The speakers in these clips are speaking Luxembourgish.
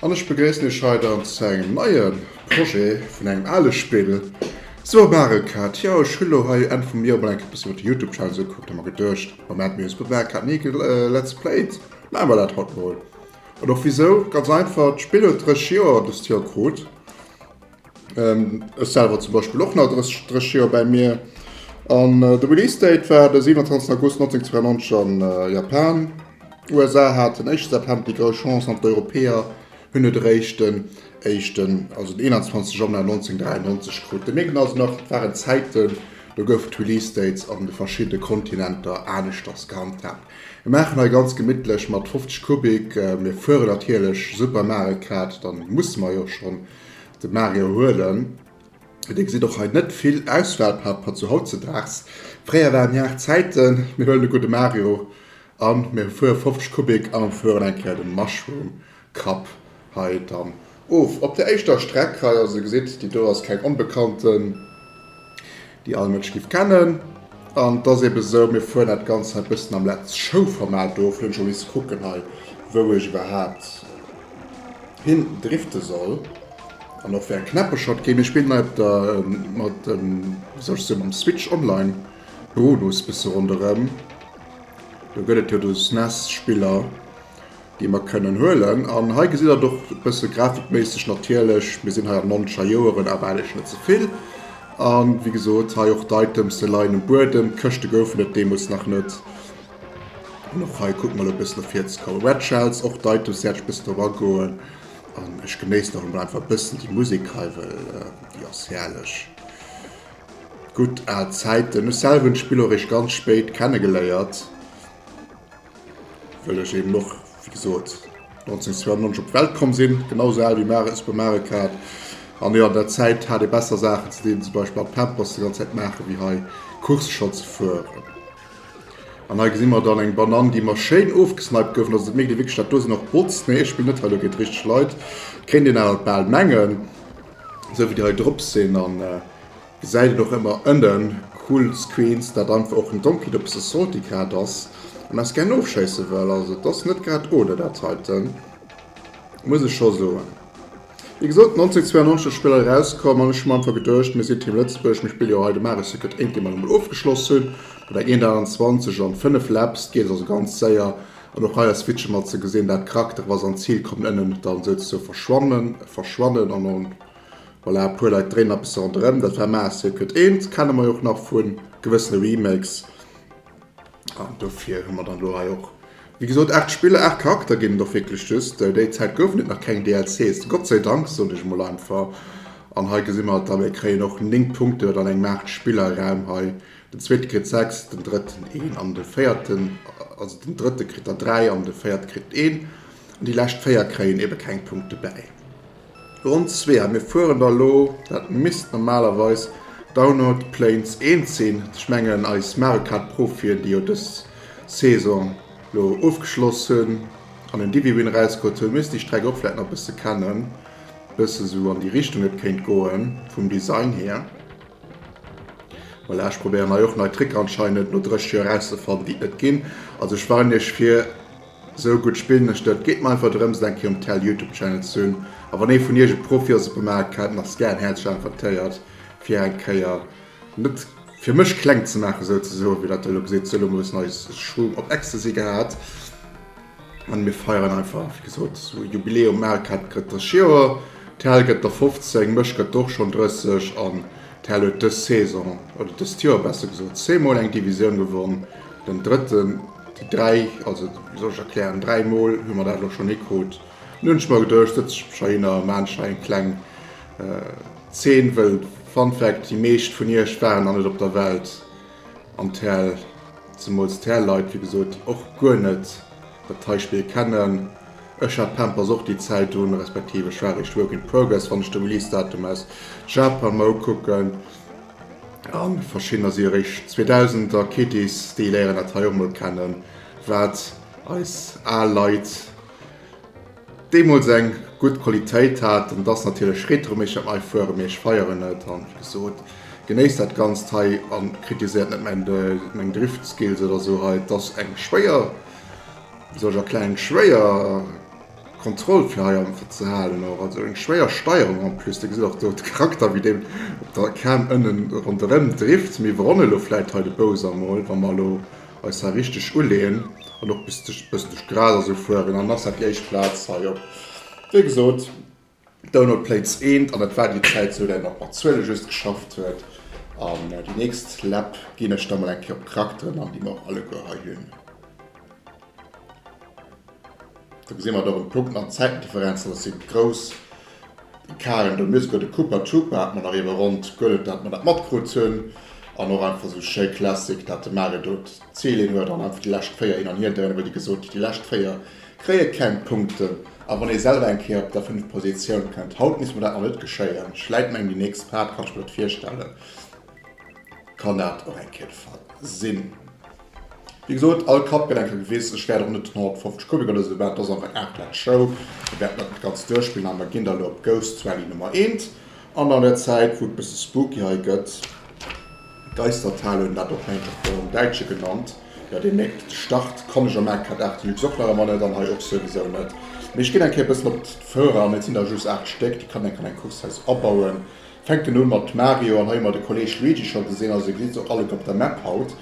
An ech begréissen iech hei dann zu engem neie Projet vun engem ale Spill. So Mario Kart, jo ech hunn elo hei jo Enn vum Joer mol eng Kéier e bëssen op de Youtube Channel esou gekuckt a mer geduecht, Moment mir hunn esou gutt Mario Kart ni ge let's played, maache mer dat haut mol. An och wisou, ganz einfach, d'Spill huet 30 Joer dëst Joer krut. Ech selwer zum Beispill och nach 30 Joer bäi mir. An de Release Date war de 27 August 1992 an Japan. USA hat den éischte September déi grouss Chance an d'Europäer hunn et eréischt den éischten, also den 21 Januar 1993 krut. Dee Meechen ass nach, et waren Zäiten, do goufen d'Release Dates an de verschiddene Kontinenter aneschters gehandhaabt. Mir maachen hei ganz gemittlech mat 50 Kubik. Mir fueren natierlech Super Mario Kart, dann musse mer jo schonn. De Mario huelen. Dir gesitt och hei net vill Auswahlpapper zu hautzedaags. Fréier waren Jar Zäiten. Mir huelen e gudde Mario an mir fuere 50 Kubik an fueren eng Kéier de Mushroom Cup hei dann of. Op der éischter Streck hei, also gesitt, déi do ass keng onbekannten déi all Mënsch giff kennen an et ass eben esou mir fueren dat ganzt hei bëssen am Let's Show Format of. Hunn scho misst kucken hei wou ech iwwerhaapt hin drifte soll an och wéi eng Knäpp ech haut ginn. Ech spillen hei op der mat dem wéi soll ech soen mam Switch Online Modus bësse ronderëm. Do gëtt et jo do sou SNES Spiller déi mer kënnen huelen. An hei gesitt Der et och e bësse grafikméisseg natierlech, mir sinn hei an Montscha Joeren, awer eigentlech net ze vill. A wéi gesot, hei och d'Items, se leien um Buedem, d'Këschte goufen et deemools nach net. An och hei kucke mol e bëssen no vir ze kommen. Red Shells, och d'Items wäert ech e bëssen drop agoen. An ech genéissen och emol einfach e bëssen déi Musek hei, well déi ass herrlech. Gutt al Zäiten. Ech selwer hunn d'Spill och eréischt ganz spéit kenne geléiert. Wëll ech eben och, wéi gesot, 1992 op d'Welt komm sinn, genau esou al wéi Mare e Super Mario Kart. An jo, an der Zäit hat ee besser Saachen ze dinn, zum Beispill mat Pampers déi ganz Zäit maachen, wéi hei Course scho ze fueren. An hei gesi mer dann eng Banann, déi mer schéin ofgesniped gouf. An ass et et méiglich, wierklech dat do sinn och Bots? Nee, ech spillen net hei elo géint richteg Leit, kéint een awer bal mengen, esou wéi déi hei drop sinn. An Säit et och emmer ënnen cool Screens dat einfach och en donkelt op se salty grad ass an eis gären ofschéissen wëll. Also et ass net grad oder dat heiten muss ech scho soen. Wéi gesot 1992 ass Spill erauskomm an ech hu mer einfach geduecht mir sinn Team Lëtzebuerg, mir spille jo hei de Mario Circuit ént dee mer emol ofgeschloss hunn mat der 128 an 5 Laps geet et also ganz séier an och hei ass Switchen mat ze gesinn dat krackt, da wa se an d'Zil kommen ënnen dann souzesou verschwannen verschwannen an en Voilà, e puer Leit dréinen nach e bësse ronderëm. Dat war Mass Circuit 1, kenne mer jo och nach vu gewëssene Remakes. An dofir hu mer dann elo hei och, wéi gesot, 8 Spiller, 8 Charakter ginn et och wierklech just. Déi Zäit goufen et nach keng DLCs, Gott sei Dank, soen ech emol einfach. An hei gesi mer et da, mir kréien och 9 Punkten, dat an engem 8 Spiller Raum hei. Den zweete kritt 6, den drëtten een an de véierten, also den drëtte kritt der 3 an de véierte kritt een. An déi lescht 4 kréien ebe keng Punkte bäi. Ronn zwee a mir fueren da lo, dat misst normalerweis Downert Plains 1 sinn, ech mengen eis Mario Kart Profien déi jo dës Saison lo ofgeschloss hunn an en Divi-Win erausgeholt hunn, misst déi Streck och vläit nach e bësse kennen, bësse sou an déi Richtung et kéint goen vum Design hier. Voilà, ech probéieren hei och nei Tricker anscheinend no 30 Joer erauszefannen déi et net ginn, also ech warnen iech fir. Sou gudd spillen ech net. Geet mer einfach drëms et eng Kéier um Tel Youtube Channel ze hunn a wann ee vun iech e Profi ass op dem Maart kennt nach Scan häerzlech invitéiert fir eng Kéier net fir mech kleng ze maachen souzesoen wéi dat der elo geséit. Sou elo hu mer e bëssen eis Schwung op Ecstasy gehat an mir feieren einfach wéi gesot sou Jubiläum. Maart hat gëtt dësch Joer, Tel gëtt der 15, mech gëtt der och schonn 30 an Tel huet dës Saison oder dëst Joer besser gesot zwee mol eng Divisioun gewonn, den drëtten. Déi dräi, also wéi soll ech erklären, dräi Mol hu mer dat elo schonn hikrut. Nun hunn ech mer geduecht, setze ech mech heihinner a maachen hei eng kleng Zeen, well, Fun Fact, déi meescht vun iech waren nach net op der Welt an d'Häl, zemools d'Häl Leit, wéi gesot, déi och guer net dat hei Spill kennen. Ech hat Pampers och déi Zäit un, respektiv ech war eréischt Work in Progress, wann ech de Release Datum aus Japan mer ukucken. An verschiddener si eréischt 2000 a Kitties, déi léieren dat hei och mol kennen, wat eis al Leit deemools eng gutt Qualitéit hat. An et ass natierlech Retro, mee ech hätt mei fueren, mee ech feieren et an wéi gesot genéisst dat Ganzt hei a kritiséiert net mäin meng Drift Skills oder sou hei. Et ass eng schwéier, wéi soll ech erklären, eng schwéier. Kontroll fir hei einfach ze halen och, also eng schwéier Steierung en plus. Dir gesitt och do de Charakter wéi deen op der Cam ënnen ronderëm drifft. Mee iwwerholl elo vläit hei de Bowser mol, wa mer elo eis hei richteg uleeën an och bëssen duerch d'Gras a sou fueren. An dann ass dat déi éischt Plaz hei op, wéi gesot. Download Plates eent an dat war déi Zäit sou dat een och mat Zuele just geschafft huet. An déi nächst Läpp ginn ech da mol eng Kéier op d'Charakteren an déi mer och alleguer hei hunn. Do gesi mer et och un de Punkten an d'Zäitendifferenzen, dat si grouss Ecarten do, mir souguer de Koopa Troopa hat mer nach iewer ronnt gehuelen, dat mer dat matkrut hunn. An och einfach sou schéi classic dat de Mario do d'Zil een huet an einfach déi lescht 4 hin an hier dréinen, wëll déi gesot déi lescht 4 Kréie keng Punkten. A wann ee selwer eng Kéier op der 5 Positioun kënnt. Haut misst mer dat nach net geschéien. Ech läit mengen, déi nächst Part, kann ech mer net virstellen, kann dat och eng Kéier de Fall sinn. Wéi gesot, all Kapp gëtt eng Kéier gewiss. Ech wäert och net 150 Kubik oder esou bauen. Dat ass einfach Aart vun der Show. Mir wäerten dat net ganz duerchspillen. A mer ginn da elo op Ghosts Rally Nummer eent. An an der Zäit, wou et e bësse spooky hei gëtt, D'Eistertal hunn dat och hei nach Bord am Däitsche genannt. Jo, dee Méck Start kann ech am Mk. 8 Deluxe och nach emmer net an hei och souwisou net. Mee ech ginn eng Kéier e bëssen op d'Föhrer an. Et sinn der just 8 Stéck, déi kann een an eng Course Haus abauen. Fänken un mat Mario an hei hu mer de Kolleg Luigi scho gesinn. Also gesi se och alleguer op der Map haut.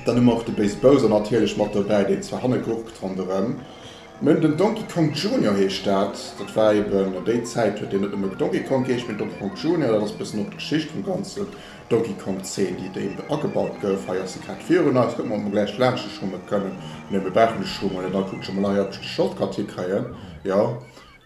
Dann hu mer och de Béis Bowser natierlech mat dobäi, deen zwar hanne gurkt ronderëm. Mën, den Donkey Kong Junior heescht dat. Dat war eben, déi Zäit huet deen net nëmme Donkey Kong geheescht, mee Donkey Kong Junior. Dat ass e bëssen och d'Geschicht vum ganzen Donkey Kong 10, déi déi do agebaut gouf. Hei ass se grad virun eis. Kucke mer, ob mer gläich laanscht e Schummel kënnen. Nee, mir brauchen e Schummel net. Dann kuckt scho mol hei, ob ech de Shortcut hikréien. Jo,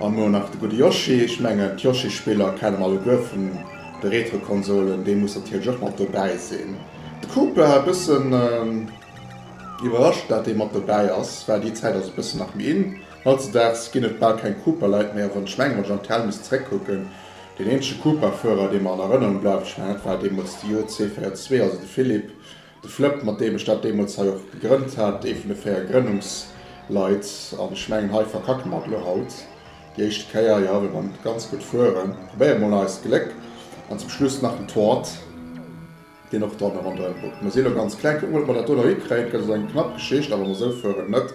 An lo nach de gudde Yoshi. Ech mengen d'Yoshi-Spiller kenne mer alleguer vun de Retro-Konsolen, dee muss natierlech och mat dobäi sinn. De Koopa, e bëssen iwwerrascht dat dee mat dobäi ass, well déi Zäit ass e bëssen nach méi in. Hautzedags ginn et bal keng Koopa-Leit méi, a wann ech mengen, wann ech an d'Hell misst zeréckkucken, deen eenzege Koopa-Fuerer, dee mer an Erënnerung bleift, ech mengen dat war deemools de JC402, also de Philippe, De Flëpp, mat deem ech dat deemools hei och gegrënnt hat, ee vun de véier Grënnungsleit, an ech mengen, hei verkacke mer et elo haut déi éischte Kéier, jo, well mer ganz gutt fueren, probéiere mol eist Gléck, an zum Schluss nach den Toart, deen och dann ronderëm guckt. Mer si elo ganz kleng, kucken, ob mer dat do nach hikréien, et gëtt also eng knapp Geschicht, a wa mer esou fueren, net?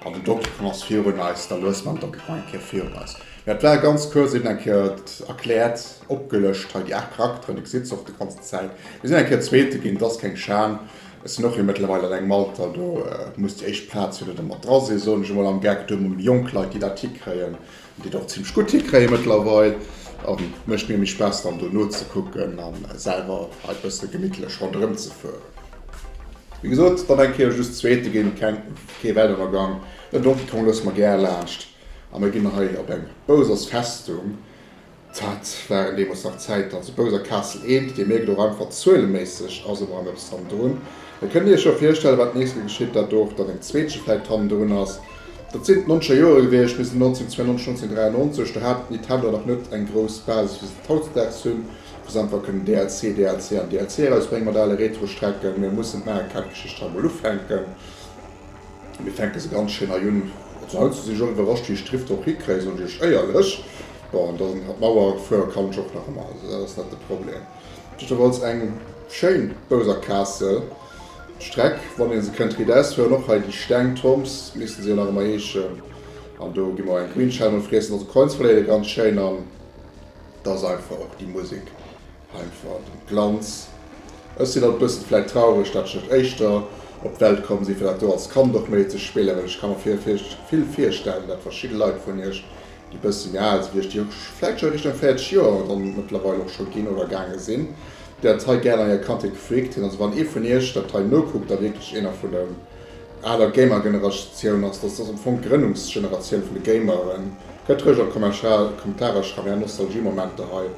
An den Donkey Kong ass virun eis, da luesse mer den Donkey Kong eng Kéier virun eis. Mä et war ganz kuerz eben eng Kéier erkläert. Opgelëscht hei déi 8 Charakteren, dir gesitt se och déi ganzen Zäit. Mir sinn eng Kéier Zweete ginn, et ass keng Schan. Ech sinn och jo mëttlerweil eleng am Alter, do muss déi éischt Plaz jo net ëmmer dra sinn, soen ech emol am Geck. Do emol jonk Leit, déi dat hikréien, déi et och zimmlech gutt hikréie mëttlerweil, mécht mir méi Spaass dann do nozekucken a selwer hei e bësse gemittlech ronderëm ze fueren. Wéi gesot, dann eng Kéier just Zweete ginn, keng, kee Weltunnergang. Den Donkey Kong loosse mer gär laanscht a mir ginn hei op eng Bowser's Festung, Dat waren deemols nach Zäiten. Also Bouser Castle eent, Dir mierkt och einfach, zueleméisseg ass emol eppes hannendrun. Da kënnt Dir Iech jo virstellen, wat d'nächst ke geschitt, dat do och dann eng zweetche vläicht hannendrun ass. Dat sinn d'Noncher Jore gewiescht, bis 1992, 1993. Do hat Nintendo nach net eng grouss Basis, wéi se et hautdesdaags hunn, wou se einfach kënnen DLC, DLC an DLC erausbréngen mat ale Retro-Strecken. Mee mussen d'Mario Kart-Geschicht hei emol ufänken. Mir fänke se ganz schéin hei un. Also haut sinn ech och iwwerrascht wéi ech d'Schrift och hikréien, soen ech iech éierlech. Bon, an dann hat Mauer fuere kann ech och nach ëmmer, also dat ass net de Problem. Jiddwerfalls eng schéin Bouser Kaassel Streck, wann ee se kënnt riit ausfueren. Och hei déi Steng Tombs misste se jo nach ëmmer heeschen. An do gi mer och eng Grünschelme friessen. Also Coinsvallée, ganz schéin. An et ass einfach och déi Musek. Einfach den Glanz. Ech sin alt bessen vläit traureg dat ech net éischter op d'Welt komm sin fir dat do als Kand och méi ze spillen, well ech ka mer vill virstellen dat verschidden Leit vun iech déi bessen méi aal sin wéi ech, déi vläit schon Richtung 40 Joer dann mëttlerweil och schon gin oder gaange sin, déi dat hei gären an hir Kandheet gefreakt hun. Also wann ee vun iech dat hei nokuckt a wierklech eener vun der aaler Gamergeneratioun ass, dass dass am Fong d'Grënnungsgeneratioun vun de Gameren, gëtt roueg an d'Kommentarer schreiwen är Nostalgiemomenter hei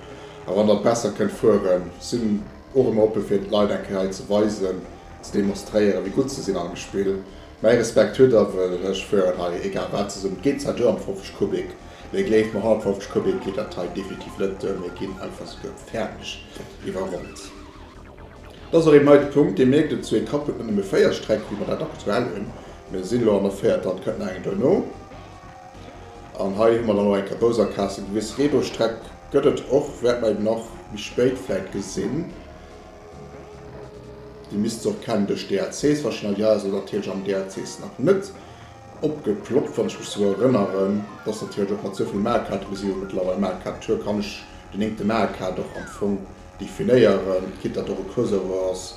A wann der besser kënnt fueren, sinn och ëmmer oppe fir de Leit eng Kéier hei ze weisen, ze demonstréieren, wéi gutt se sinn an dem Spill. Mäi Respekt hutt der, wëll ech fueren hei egal wat zesummen. Et geet zwar duer am 50 Kubik, mee gleeft mer, hannert 50 Kubik geet dat hei definitiv net duer. Mir ginn einfach souguer fäerdeg iwwerrollt. Dat ass och eben hei de Punkt. Dir mierkt et, zwou Etappe huet net nëmme véier Strecke wéi mer dat aktuell hunn. Mir sinn elo an der véierter an et kënnt nach eng duerno. An hei hu mer dann och eng Kabouser Kasse gewiss. Reebouschstreck gëtt et och, wäert mer eben nach méi spéit vläit gesinn. Déi misst se och kennen duerch DLCs warscheinlech. Hei ass et natierlech an den DLCs nach net opgeploppt, wann ech mech esou erënneren. Et ass natierlech och mat souvill Mario Kart, bis elo mëttlerweil Mario Kart Tour, kann ech den néngte Mario Kart och am Fong definéieren, quitte datt och e Crossover ass.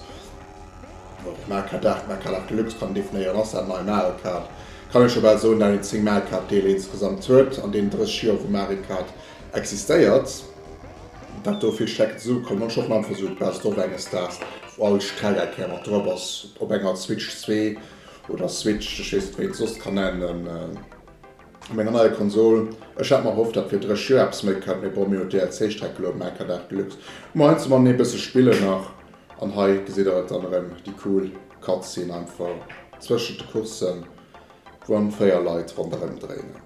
D'Marker Dag, d'Marker Dag Deluxe kann een definéieren als dat nei Mario Kart, kann ee scho bal soen, dat een 10 Mario Kart Deeler insgesamt huet an deenen 30 Joer wou Mario Kart existéiert, dat do vill Strecken zesummekommen. Ech hoffen einfach esou Best of enges Daags, wou all Strecke eng Kéier mat drop ass op enger Switch 2 oder Switch, ech weess net wéi een et soss kann nennen, op enger neier Konsol. Ech hat mer erhofft, dat fir 30 Joer eppes méi kënnt, mee bon, mir hunn d'DLC Streck elo, Marker Dag Deluxe, hu mer heiansdo mat méi e bësse spillen nach. An hei gesitt der et dann erëm, déi cool Cutscene einfach zwëschent de Coursen, wou eng 4 Leit ronderëm dréinen.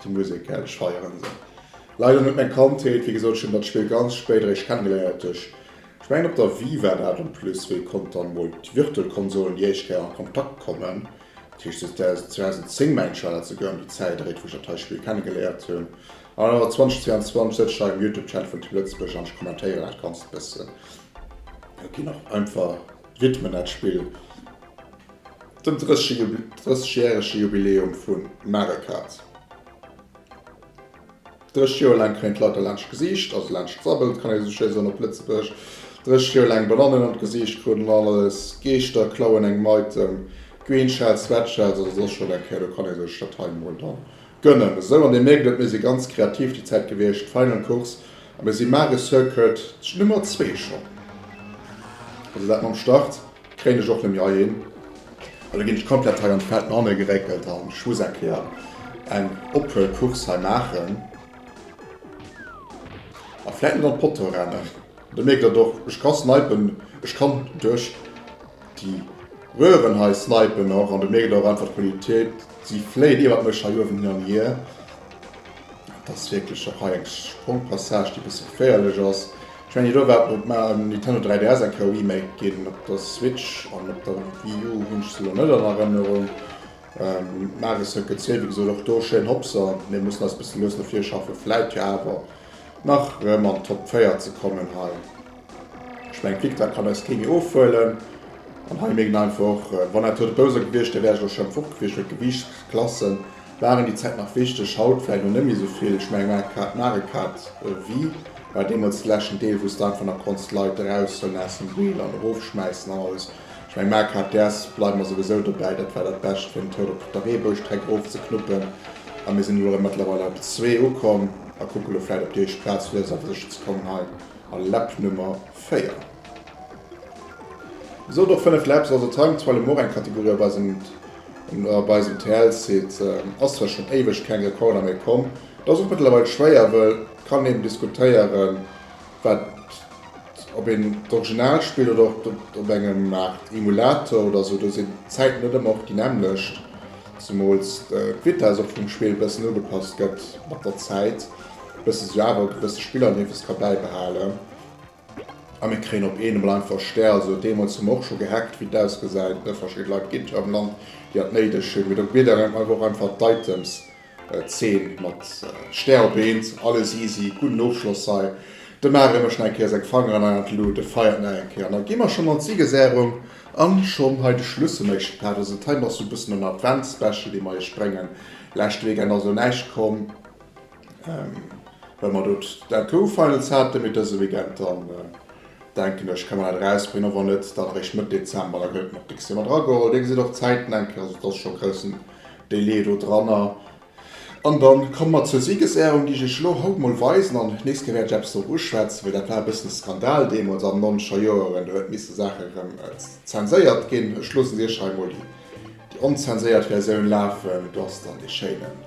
Déi Musek, gell, ech feieren se. Leider net meng Kandheet, wéi gesot, ech hunn dat Spill ganz spéit eréischt kennegeléiert duerch, ech mengen op der Wii war dat en plus, wéi konnt dann mol d'Virtual Konsolen déi éischt Kéier an Kontakt kommen. Dat heescht, si ass 2010 mäin Channel ze goen, déi Zäit eréit, wou ech dat hei Spill kennegeléiert hunn. An awer 2022 sëtz ech hei um Youtube Channel vun Team Lëtzebuerg an ech kommentéieren dat Ganzt e bëssen. Jo, ginn och einfach widmen dat Spill dem 30 Jubile 30 järege Jubiläum vu Mario Kart. Drescht Joer laang kréien d'Leit e laanscht Gesiicht, also laanscht d'Sabbelt, kann ee sou schéi soen op Lëtzebuerg. Drescht Joer laang Banannen an d'Gesiicht kruten an alles. Geeschter klauen engem Item, Green Shells, Sweat Shells oder soss scho wat, do kann ee sech dat hei emol da gönnen. Esou, an Dir mierkt et, mir si ganz kreativ déi Zäit gewiescht. Final Course a mir si Magessuer, Kurt, d'Nummer zwee schonn, also dat mam Start. Kréien ech och net méi heihin. Elo ginn ech komplett hei an d'Feld no hanne geréckelt an ech muss eng Kéier eng Ophuelcourse hei maachen. A vläit net an d'Potto rennen. Do mierkt Der och, ech ka snipen, ech kann duerch déi Röhren hei snipen och. An do mierkt Der och einfach d'Qualitéit, si fléit iwwert mech hei uewen hin an hier. Et ass wierklech och hei eng Sprongpassage, déi e bësse geféierlech ass. Ech mengen, elo war op mar en Nintendo 3DS eng Kéier remaked ginn. Op der Switch an op der Wii U hunn ech se elo net an Erënnerung. D'Mario Circuit 2, wéi gesot, och do schéin Hopser. Mir mussen eis e bësse lues no vir schaffen, vläit jo awer nach rëm an d'Top 4 ze kommen hei. Ech mengen, d'Victoire kann eis kee méi ofhuelen. An hei mierkt een einfach och, wann dat elo de Bowser gewiescht wär, wär ech elo schonn fort gewiescht, well d'Gewiichtsklassen waren déi Zäit nach wichteg, haut vläit lo net méi esou vill. Ech mengen Mario Kart, Mario Kart Wii war deemools de leschten Deel wou s de einfach nach konns d'Leit eraushuelen aus dem Wheel an erofschmäissen an alles. Ech mengen Mario Kart DS bleiwe mer souwisou dobäi, dat war dat Bescht fir en Tour op der Reebouschstreck erofzeknuppen a mir sinn elo jo mëttlerweil op zwee ukomm a kucke lo vläit op déi éischt Plaz fir eis awer sécher ze kommen hei a Lap Nummer 4. Esou och 5 Labs also Time to Alemore, eng Kategorie op eisem op eisem TL Site. Ass zwar schon éiweg keng Recorder méi komm, et ass och mëttlerweil schwéier wëll et kann een diskutéieren wat op een d'Original spillt oder op et op engem Art Emulator oder sou, do sinn d'Zäiten net ëmmer och déi nämmlecht, zemools d'Vitess och vum Spill bëssen ugepasst gëtt mat der Zäit, bësse sou awer e gewësse Spiller neefes ka bäibehalen. A mir kréien op eenemol einfach Stär. Also deemools hu mer och scho gehackt, wéi et ausgesäit, ne? Verschidde Leit op GitHub am Land, déi dat néideg hunn. Mee do gebitt een awer och einfach d'Items 10 mat Stär op eent. Alles easy, gudden Ofschloss hei. De Mar remet nach eng Kéier seng Fangeren hei an d'Lut, de feiert nach eng Kéier an da gi mer schonn an d'Sigesäerung an schonn hei de Schluss vum éischte Part. Also dat hei ass esou e bëssen en Advents-Special, dee mer iech bréngen. Leschte Weekend ass elo näischt komm. Well mer do d'Entrou Finals hate fir dëse Weekend, dann denken ech ka mer dat erausbréngen, och wann net dann eréischt Mëtt Dezember. Da gëllt nach dicks Dir mat erageholl. Dir gesitt och d'Zäiten, denken ech, also et ass scho e groussen Delai do dranner. An da komme mer zur Siegesehrung, déi ech Iech elo haut mol weisen. An d'nächst Kéier wäert ech eppes drop uschwätzen, well dat war e bëssen e Skandal deemools an den nonzeger Joeren. Do huet misse Saache erëm zenséiert ginn. Ech loossen Iech hei mol déi onzenséiert Versioun lafen. Do ass dann dee schéinen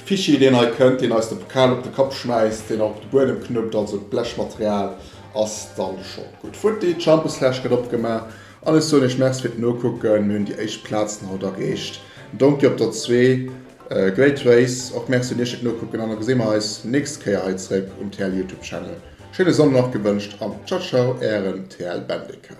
Fischi deen hei kënnt, deen eis de Pokal op de Kapp schmäisst, deen och op de Buedem knuppt, also d'Blechmaterial ass dann scho gutt futti. D'Champeslaasch gëtt opgemaach an ech soen iech Merci fir d'Nokucken. Mir hunn déi éischt Plazen haut erreecht. Donkey op der zwee. Great Race och Merci un iech fir d'Nokucken an da gesi mer eis nächst Kéier hei zeréck um TL Youtube Channel. Schéine Sonndeg nach gewënscht an Ciao Ciao ären TL Bendeker.